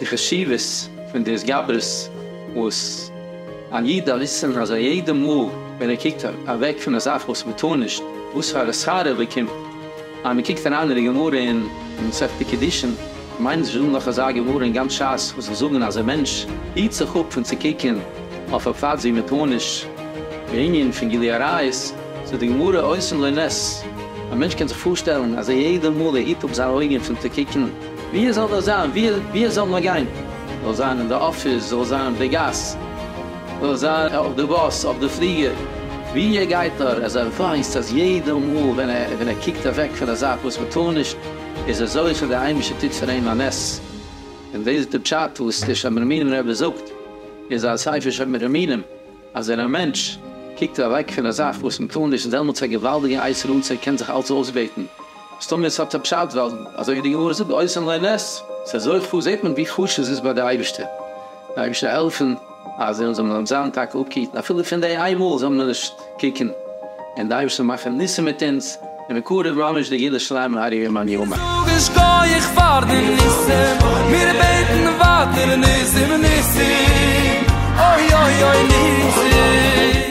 די חשיבות פון די התגברות וואס א איד דארף וויסן אז א יעדע מאל ווען ער קוקט אוועק פון א זאך וואס מען טאר נישט וואס פאר א שכר ער באקומט, אז מען קוקט אריין אין די גמרא אין מסכת קידושין, מיינט זשע דא נאך אזא גמרא אין גאנץ שס וואס זאל זאגן אז א מענטש היט זיך אפ פון צו קוקען אויף א פאד ווי מען טאר נישט, בענין פון גילוי עריות, זאגט די גמרא עושים לו נס, א מענטש קען זיך פארשטעלן אז יעדע מאל ער היט אפ זיינע אויגען פון צו קוקען, ווי עס זאל נאר זיין, ווי עס זאל נאר גיין, זאל זיין אין די אפיס, זאל זיין אויף די גאס, זאל זיין אויף די באס, אויף די פליגער, ווי ער גייט נאר, אז ער ווייסט אז יעדע מאל ווען ער קוקט אוועק פון א זאך וואס מען טאר נישט, איז ער זוכה די אייבישטער טוט פאר אים א נס, און דאס איז די פשט וואס דער שם מרומנים רבי זאגט אין זיין ספר שם מרומנים, אז ווען א מענטש קוקט אוועק פון א זאך וואס מען טאר נישט איז דעמאלטס א געוואלדיגע עת רצה ער קען זיך אלץ אויסבעטן, מסתמא עס האט א פשט ווייל אזוי ווי די גמרא זאגט עושה לו נס, אז ער זוכט פאר זעט מען ווי חשוב עס איז ביי די אייבישטער. אייבערשטער העלפן אז זיי זאלן אונז זיין טאקע אפגעהיטן אפילו פון די איין מאל זאל מען נישט קוקן און די אייבערשטער מאכן ניסים מיט אונז און מקרב ממש די גאולה שלימה מהרי י מאן יימר. זאג א שקויעך פאר די ניסים מיר בעטן ווייטער ניסים ניסים אוי אוי אוי ניסים.